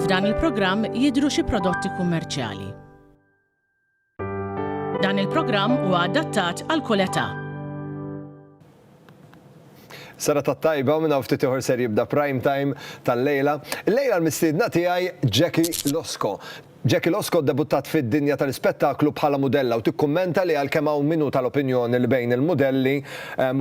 F'dan il-programm jidhru xi prodotti kummerċjali. Dan il-programm huwa adattat għal kull età. Sara ta' tajba minn hawn ftit ieħor ser jibda prime time tal-lejla. Lejla l-mistiedna tiegħi Jackie Losko. Jackie Losco ddebuttat fid-dinja tal-ispettaklu bħala mudella u tikkummenta li għalkemm hawn min hu tal-opinjoni li bejn il-mudelli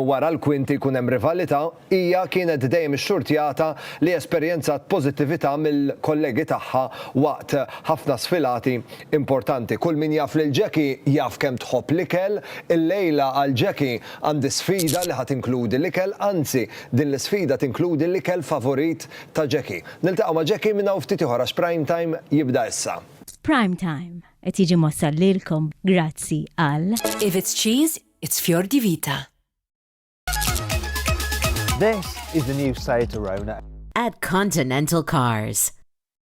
wara l-kwinti jkun hemm rivalità, hija kienet dejjem ixxurtjata li esperjenzat pożittività mill-kollegi tagħha waqt ħafna sfilati importanti. Kull min jaf lil Jackie jaf kemm tħobb l-ikel. Illejla għal Jackie għandi sfida li ħa tinkludi l-ikel, anzi din l-isfida tinkludi l-ikel favorit ta' Jackie. Niltaqgħu ma' Jackie minn hawn ftit ieħor għax Prime Time jibda issa. Prime Time qed jiġi mwassal lilkom grazzi għal. If it's cheese, it's fior di vita. This is the new Seat Arona. At Continental Cars.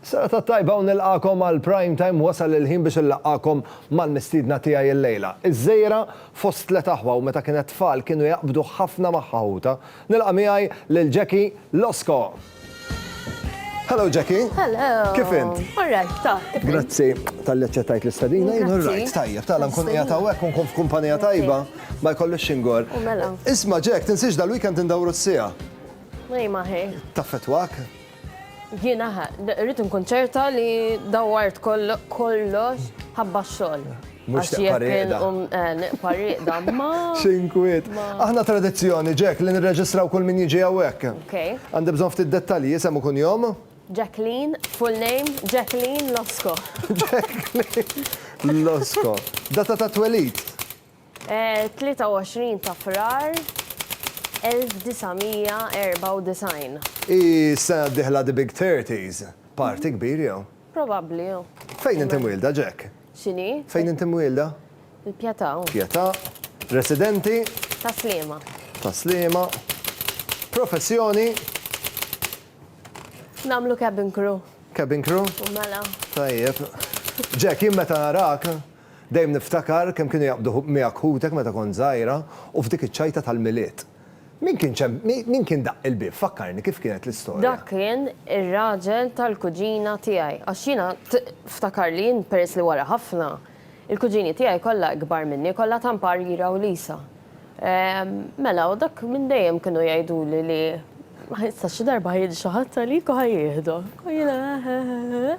Serata tajba u nilqagħkom għal Prime Time wasal il-ħin biex inlaqqagħkom mal-mistiedna tiegħi illejla. Iż-Żejra fost tliet aħwa u meta kienet tfal kienu jaqbdu ħafna magħha ħutha. Nilqa' miegħi lil Jackie Losco. Hello Jackie. Hello. Kif int? All right, ta. Grazzi talli aċċettajt l-istedina. Jien all right, tajjeb, tala nkun qiegħed hawnhekk u nkun f'kumpanija tajba ma jkollix xingor. Mela. Isma' Jack, tinsiex dal-weekend indawru s-siegħa. Ej ma ħej. Taffetwak? Jiena ħa, rrid inkun ċerta li dawwart kollox ħabba x-xogħol. Mhux tibqa' rieqda. Nibqa' rieqda, ma. X'inkwiet. Aħna tradizzjoni, Jack, li nirreġistraw kull min jiġi hawnhekk. Għandi bżonn ftit dettalji, isem u kunjom? Jacqueline, full name, Jacqueline Losco. Jacqueline Losco. Data tat-twelid? 23 ta' Frar 1994. Hi s-sena d-dieħla the big thirties. Party kbir jew? Probabbli jew. Fejn inti mwielda, Jack? X'inhi? Fejn inti mwielda? Il-Pjetà. Pjetà. Residenti? Tas-Sliema. Tas-Sliema. Professjoni? Nagħmlu cabin crew. Cabin crew? Mela. Tajjeb. Jack, jien meta narak, Dejjem niftakar kemm kienu jaqbdu miegħek ħutek meta kont żgħira u f'dik iċ-ċajta tal-Milied. Min kien ċem, min kien daqq il-bieb? Fakkarni kif kienet l-istorja. Dak kien ir-raġel tal-kuġina tiegħi għax jiena ftakar li jien peress li wara ħafna, il-kuġini tiegħi kollha ikbar minni, kollha ta' mparjira u lisa. Mela u dak minn dejjem kienu jgħiduli li. Issa xi darba ħa jiġi xi ħadd għalik u ħa jieħdok. U jiena.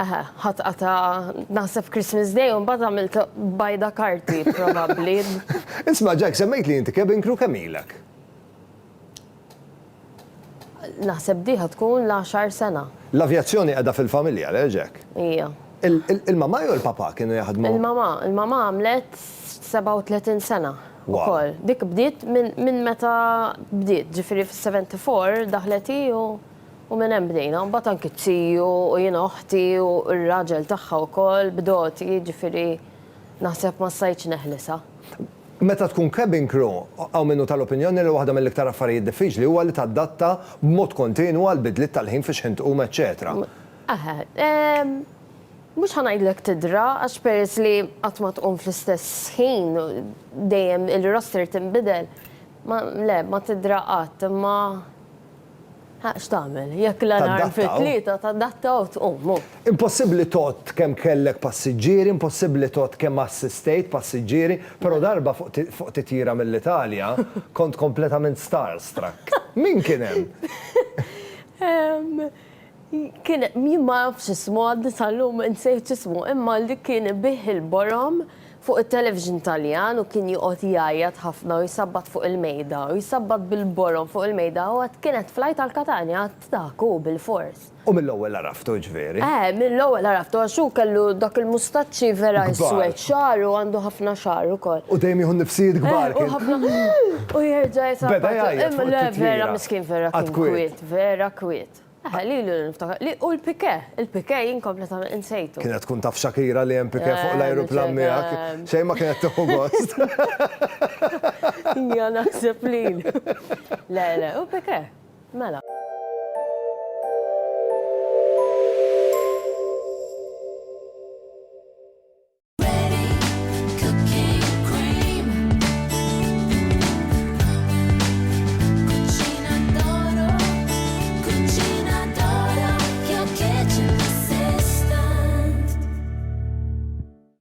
Eħe, ħadd qata' naħseb Christmas Day u mbagħad għamilt bajda karti probabbli. Isma' Jack, semmejtli inti cabin crew kemm ilek? Naħseb di ħa tkun l-għaxar sena. L-avjazzjoni qiegħda fil-familja, le Jack? Hija. Il-mamà jew il-papà kienu jaħdmu? Il-mamà, il-mamà għamlet 37 sena. Ukoll. Dik bdiet minn meta bdiet, ġifieri fis-74 daħlet hi u U minn hemm bdejna, mbagħad anki t-tiju u jien oħti u r-raġel tagħha wkoll b'doti, jiġifieri naħseb ma stajtx neħlisha. Meta tkun cabin crew, hawn min hu tal-opinjoni li waħda mill-iktar affarijiet diffiċli huwa li tadatta b'mod kontinwu għall-bidliet tal-ħin fi xħin tqum eċċetera. Eħe. Mhux ħa ngħidlek tidra għax peress li qatt ma tqum fl-istess ħin, dejjem il-roster tinbidel, ma le, ma tidra qatt, imma Ħa x'tagħmel? Jekk l-alarm fit-tlieta, tadatta u tqum, hu. Impossibbli tgħodd kemm kellek passiġġieri, impossibbli tgħodd kemm assistejt passiġġieri, però darba fuq titjira mill-Italja, kont kompletament starstruck. Min kien hemm? Kien jien ma nafx ismu għadni sal-lum insejt ismu imma li kien ibigħ il-borom fuq it-television Taljan u kien joqgħod jgħajjat ħafna u jsabbat fuq il-mejda u jsabbat bil-borom fuq il-mejda u għad kienet flight għal Katanja għad dak hu bil-fors. U mill-ewwel għaraftu jiġifieri? Eħe mill-ewwel għaraftu għax hu kellu dak il-mustaċċi vera iswed xagħar u għandu ħafna xagħar ukoll. U dejjem jieħu n-nifsijiet kbar kien. Eħe u ħafna u jerġa' jsabbat. Beda jgħajjat fuq it-titjira. Le vera miskin vera kien kwiet vera kwiet. Eħe, lilu li niftakar, li u l-pike, il-pike jien kompletament insejtu. Kienet tkun taf Shakira li hemm pike fuq eh, l-ajruplan miegħek, xejn ma kienet tieħu gost. Ja naħseb li. Le, le, u pike, mela.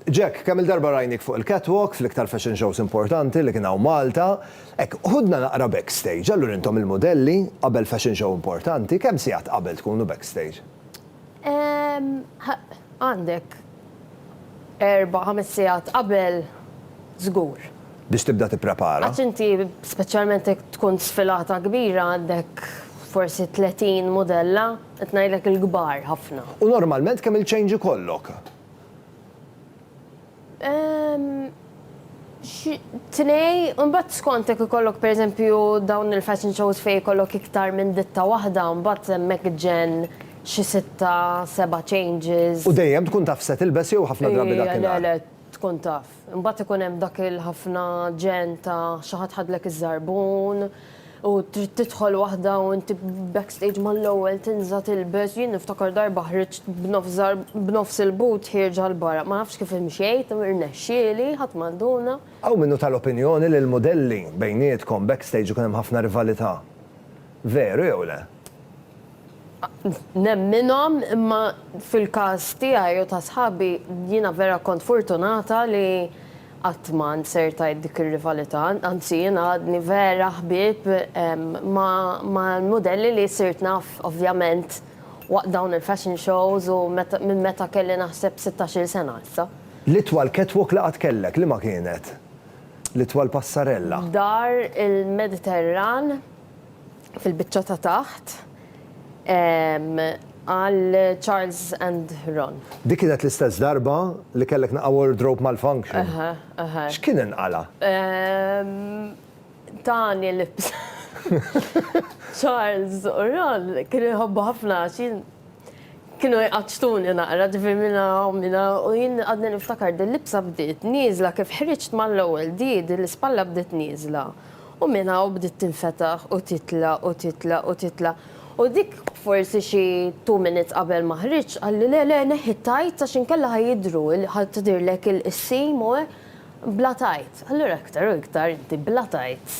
Jack, kemm il-darba rajnik fuq il-catwalk fl-iktar fashion shows importanti li kien hawn Malta, hekk ħudna naqra backstage, allura intom il-modelli qabel fashion show importanti, kemm sigħat qabel tkunu backstage? Għandek Erba', ħames sigħat qabel żgur. Biex tibda tipprepara. Għax inti speċjalment jekk tkun sfilata kbira għandek forsi 30 mudella, qed ngħidlek il-kbar ħafna. U normalment kemm-il change ikollok? Tnej, mbagħad skont jekk ikollok pereżempju dawn il-fashion shows fejn ikollok iktar minn ditta waħda, mbagħad hemmhekk ġenn xi sitta, seba' changes. U dejjem tkun taf x'se tilbes jew ħafna drabi dak inhar? Le, le, tkun taf. Imbagħad ikun hemm dak il-ħafna ġenn ta' xi ħadd ħadlek iż-żarbun. U trid tidħol waħda u inti backstage mal-ewwel tinża' tilbes, jien niftakar darba ħriġt b'nofs żar b'nofs il-but ħierġa 'l barra. Ma nafx kif imxejt, irnexxieli, ħadd ma nduna. Hawn min hu tal-opinjoni li l-mudelli bejniethkom backstage ikun hemm ħafna rivalità. Veru jew le? nemminhom imma fil-każ tiegħi u ta' sħabi jiena vera kont furtunata li qatt ma nsert għid dik ir-rivalità, anzi jiena għadni vera ħbieb mal-mudelli li sirt naf ovvjament waqt dawn il-fashion shows u minn meta kelli naħseb sittax-il sena issa. L-itwal catwalk li qatt kellek, liema kienet? L-itwal passarella? Dar il-Mediterran. fil-biċċa ta' taħt għal Charles and Ron. Dik kienet l-istess darba li kellek naqa' wardrobe malfunction? Eħe, eħe. X'kien inqala'? Tani libsa. Charles u Ron kienu jħobbu ħafna għax jien kienu jqaċċtuni naqra ġifieri minn hawn minn hawn u jien għadni niftakar din libsa bdiet nieżla kif ħriġt mal-ewwel di din l-ispalla bdiet nieżla. U minn hawn bdiet tinfetaħ u titla' u titla' u titla'. U dik forsi xi two minutes qabel ma ħriġt qalli le le neħħi t-tights għax inkella ħa jidhru ħa tidhirlek il-qissim u hekk bla tights. Allura iktar u iktar inti bla tights.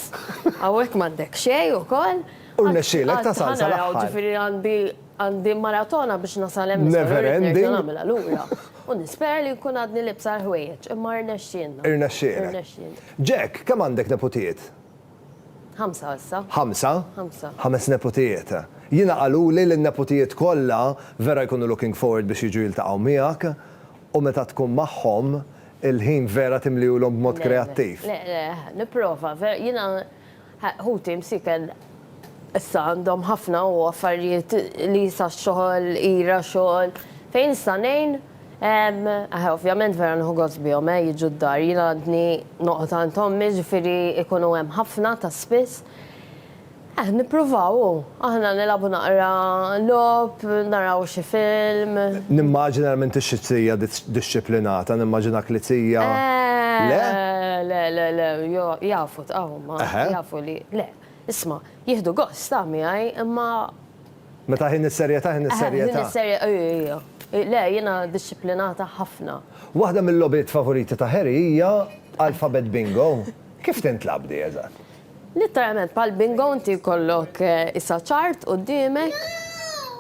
Hawnhekk m'għandek xejn ukoll. U rnexxielek tasal sal-aħħar. Għadt ħa naraw ġifieri għandi Għandi maratona biex nasal hemm iżda l-għurried nerġa' nagħmilha lura. U nispera li nkun għadni liebsa l-ħwejjeġ, imma rnexxielna. Irnexxielek. Jack, kemm għandek neputijiet? Ħamsa issa. Ħamsa? Ħamsa. Ħames neputijiet. Jiena qaluli li n-neputijiet kollha vera jkunu looking forward biex jiġu jiltaqgħu miegħek u meta tkun magħhom il-ħin vera timliehulhom b'mod kreattiv. Le, le, le, nipprova. Jiena Ħuti msieken issa għandhom ħafna u affarijiet li sa xogħol, ira xogħol, fejn nista' ngħin? Eħe ovvjament vera nieħu gost bihom eh jiġu d-dar, jien għadni noqgħod għand ommi ġifieri jkunu hemm ħafna ta' spiss. Eh nippruvaw u aħna nilagħbu naqra logħob, naraw xi film. Nimmaġina li m'intix xi tija dixxiplinata, nimmaġinak li tija, le? Le, le, le, le, jafu. Ta' huma jafu li le. Isma', jieħdu gost ta' miegħi imma. Meta ħin is-serjetà ħin is-serjetà. Le, jiena dixxiplinata ħafna. Waħda mil-logħbiet favoriti ta' Harry hija Alphabet Bingo. Kif tintlagħab di eżatt? Litteralment bħal bingo inti jkollok isa chart quddiemek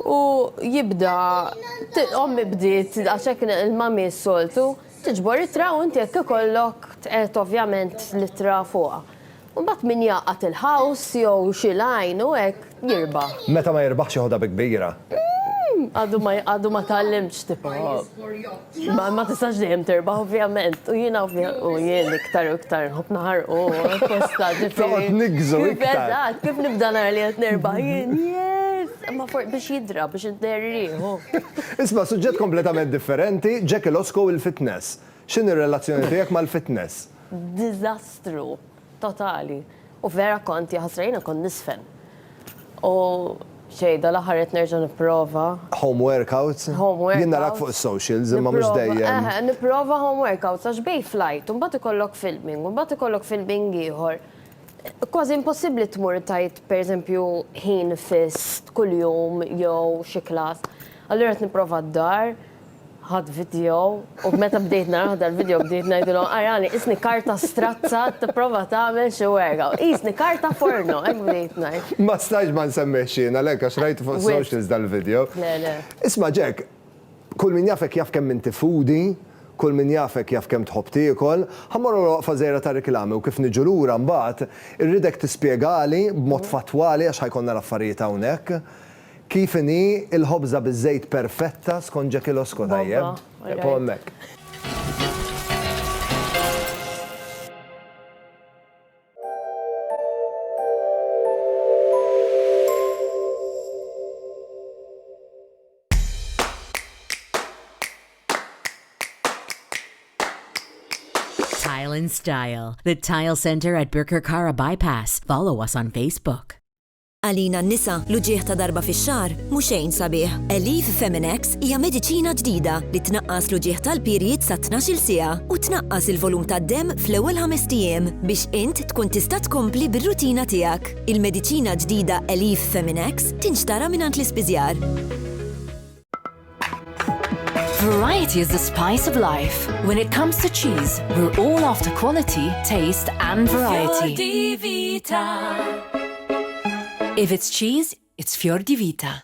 u jibda, ommi bdiet għax hekk il-mummy s-soltu Tiġbor ittra u inti jekk ikollok tqegħed ovvjament l-ittra fuqha. U mbagħad min jgħaqqad il-ħaws jew xi lajn u hekk jirbaħ. Meta ma jirbaħx jeħodha bi kbira. Għadu ma għadu ma tgħallimtx tipo ma ma tistax dejjem tirbaħ ovvjament u jiena u jien iktar u iktar nħobb naħarqu apposta ġifieri. Toqgħod niggżu iktar. Eżatt, kif nibda nara li qed nirbaħ jien, yes! Imma for biex jidra, biex idher rieħu. Isma' suġġett kompletament differenti, Jack Losco u l-fitness. X'inhi r-relazzjoni tiegħek mal-fitness? Diżastru totali. U vera kont, jaħasra jiena kont niżfen. U xejn, dal-aħħar qed nerġa' nipprova. Home workouts? Home workouts. Jien narak fuq is-socials imma mhux dejjem. Nipprova, eħe, nipprova home workouts għax bejn flight u mbagħad ikollok filming u mbagħad ikollok filming ieħor. Kważi impossibbli tmur tgħid pereżempju ħin fiss kuljum jew xi klass. Allura qed nipprova d-dar, ħadd video u meta bdejt naraħ dal-video bdejt ngħidilhom arani isni karta strazza tipprova tagħmel xi werga. Qisni karta forno, hekk bdejt ngħid. Ma stajtx ma nsemmihx jien għalhekk għax rajtu fuq is-socials dal-video. Le, le. Isma' Jack, Kull min jafek jaf kemm inti foodie, kull min jafek jaf kemm tħobb tiekol. Ħa mmorru għal waqfa żgħira ta' riklami u kif niġu lura mbagħad irridek tispjegali b'mod fattwali għax ħa jkollna l-affarijiet hawnhekk, kif inhi l-ħobża biż-żejt perfetta skont Jackie Losco, tajjeb? Eqgħu hemmhekk. Tile and Style, the Tile Center at Birkirkara Bypass. Follow us on Facebook. Għalina n-nisa, l-uġieħ ta' darba fi xar, muxejn sabiħ. Elif Feminex hija mediċina ġdida li tnaqqas l-uġieħ tal-pirjiet sa' 12 sija u tnaqqas il-volum tad-dem fl-ewwel ħamestijiem biex int tkun tista' tkompli bir-rutina tiegħek. Il-mediċina ġdida Elif Feminex tinxtara mingħand l-ispiżjar. Variety is the spice of life. When it comes to cheese, we're all after quality, taste, and variety. If it's cheese, it's Fior di Vita.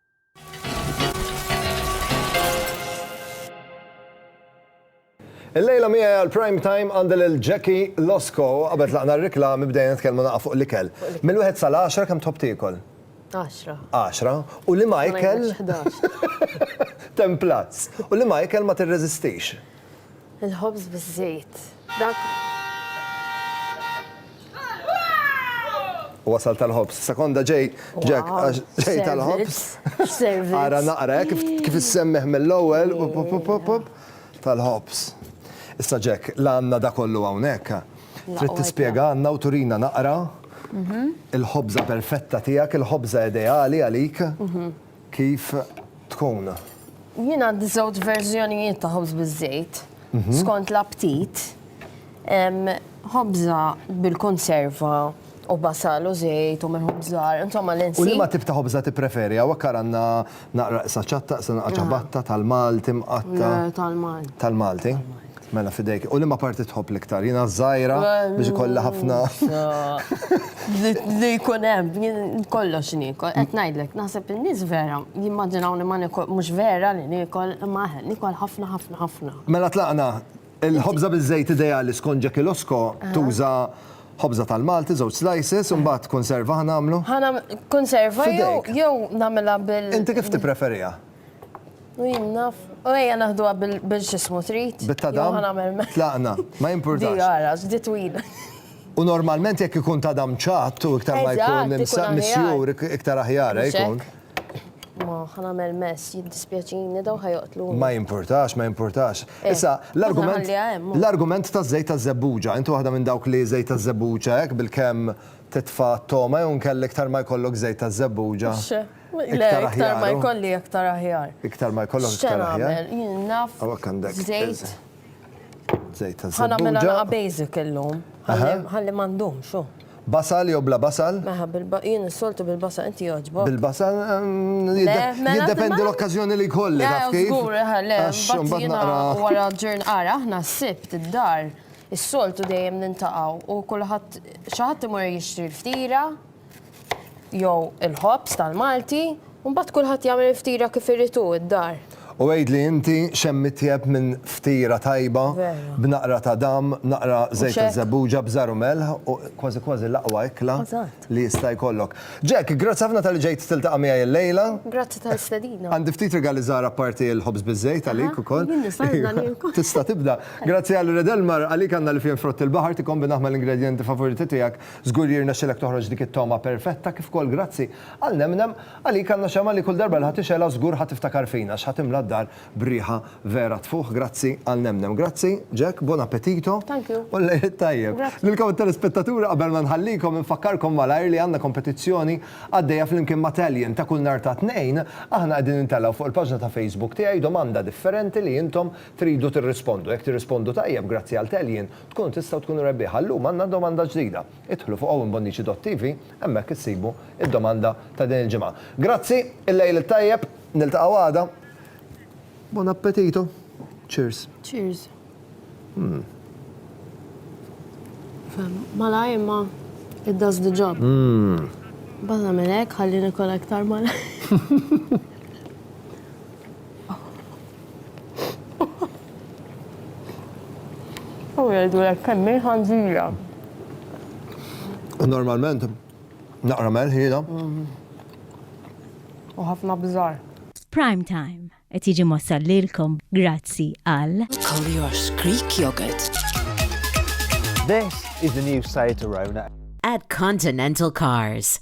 Illejla miegħi għal prime time għandi lil Jackie Losco qabel tlaqna r-riklami bdejna nitkellmu naqa' fuq l-ikel. Mill-wieħed sal-10 kemm tħobb tiekol? 10. 10. U li ma ikel? Templazz. U li ma ikel ma tirreżistix? Il-ħobż biż-żejt. Dak. U wasal tal-ħobż. Sekonda ġej, Jack, Wow, għax ġej tal-ħobż. servizz, servizz. Ara naqra, eh, kif kif issemmeħ mill-ewwel, pop, pop, pop, pop, pop, tal-ħobż. Issa Jack, la għandna da kollu hawnhekk. Trid tispjega għandna u turina naqra il-ħobża perfetta tiegħek, il-ħobża ideali għalik. kif tkun. Jien għandi żewġ verżjonijiet ta' ħobż biż-żejt, skont l-aptit. Ħobża bil-konserva u basal u żejt u minħut żgħar, insomma li nsib. U liema tip ta' ħobża tippreferi? Hawnhekk ara għandna naqra iqsa ċatta, iqsa naqra ċabatta, tal-Malti mqatta'. Le, tal-Malti. Tal-Malti. Mela fidejk. U li ma parti tħobb l-iktar? Jina zaħira biex ikolla ħafna. Li jkun hemm, kollox nikol. Qed ngħidlek, naħseb in-nies vera, jimmaġinaw li ma nikol, mhux vera li nikol, ma nikol ħafna ħafna ħafna. Mela tlaqna, il-ħobża biż-żejt ideali skont Jackie Losko tuża ħobża tal-Malti, żewġ slices, u mbagħad konserva ħanamlu. Ħana konserva jew nagħmilha bil. Inti kif tippreferiha? U jien naf. U ejja naħduha bil-xismu trid. Bit-tadam. Tlaqna. Ma jimpurtax. Di għara, di twila. U normalment jekk ikun tadam ċatt u iktar ma jkun misjur, iktar aħjar jkun. Ma ħanamel mess, jiddispjaċini daw ħajoqtlu. Ma jimpurtax, ma jimpurtax. Eh, Issa, l-argument. L-argument ta' żejt ta' zebbuġa, intu waħda minn dawk li żejt ta' zebbuġa hekk bil-kemm titfa' toma jew nkellek tar ma jkollok żejt ta' zebbuġa. Le, iktar ma jkolli iktar aħjar. Iktar ma jkollok iktar aħjar. Jien naf. Għawak għandek. Zejt. Zejt ta' zejt. Għana mela naqa basic illum. Għalli mandum, xo. Basal jew bla basal? Meħa, jien s-soltu bil-basal, inti joġbok. Bil-basal, ehm, mela jiddependi l-okkazjoni li kolli. Għur, le, bazzina wara ġurn għara, ħna s-sibt id-dar, s-soltu dejjem nintaqaw u kullħat xaħat imur jixtri l-ftira. jew il-ħobż tal-Malti, u mbagħad kulħadd jagħmel il-ftira kif irid hu d-dar. U għidli inti x'hemm itjeb minn ftira tajba b'naqra ta' dam, naqra żejt ta' żebbuġa b'żar u melħ, u kważi kważi l-aqwa ikla li jista' jkollok. Jack, grazzi ħafna talli ġejt tiltaqa' miegħi illejla. Grazzi tal-istedina. Għandi ftit rigali żgħar apparti l-ħobż biż-żejt għalik ukoll. Jien nista' nibda nieku. Tista' tibda. Grazzi għal Red Elmar, għalik għandna l-ifien frott il-baħar tikkombinah mal-ingredjenti favoriti tiegħek. Żgur li jirnexxilek toħroġ dik it-togħma perfetta kif ukoll grazzi għal nemnem għalik għandna xemgħa li kull darba li ħa tixgħelha żgur ħa tiftakar fina għax ħa timla d-dar b'riħa vera tfuħ grazzi għal nemnem. Grazzi Jack, buon appetito u l-Għid it-Tajjeb. Lilkom it-telespettaturi qabel ma nħallikom infakkarkom malajr li għandna kompetizzjoni għaddejja flimkien ma' Tallien ta' kull nhar ta' Tnejn aħna qegħdin intellgħu fuq il-paġna ta' Facebook tiegħi domanda differenti li intom tridu tirrispondu. Jekk tirrispondu tajjeb grazzi għal Tallien Tkunu tistgħu tkunu rebbieħa. Llum għandna domanda ġdida. Idħlu fuq Owen Bonnici dot TV, hemmhekk issibu d-domanda ta' din il-ġimgħa. Grazzi, il-lejl it-tajjeb, niltaqgħu għada. Buon appetito. Cheers. Cheers. Mmm. Fem, malaj imma it does the job. Mmm. Bada minn hekk ħalli nikol aktar malaj. U jgħidu l kemm ħanżira. U normalment naqra melħiela. U ħafna bżar. Prime Time qed jiġi mwassal lilkom grazzi għal Collier's Greek Yogurt. This is the new site arriving at At Continental Cars.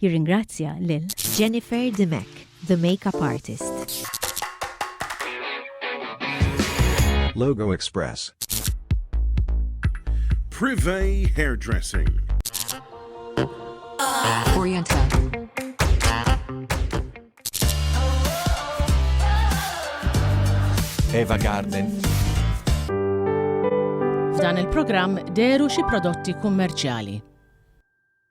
Jirringrazzja lil. Jennifer Dimech, the makeup artist. Logo Express. Privé Hairdressing. Oriental. Eva Garden. F'dan il-programm deru xi prodotti kummerċjali.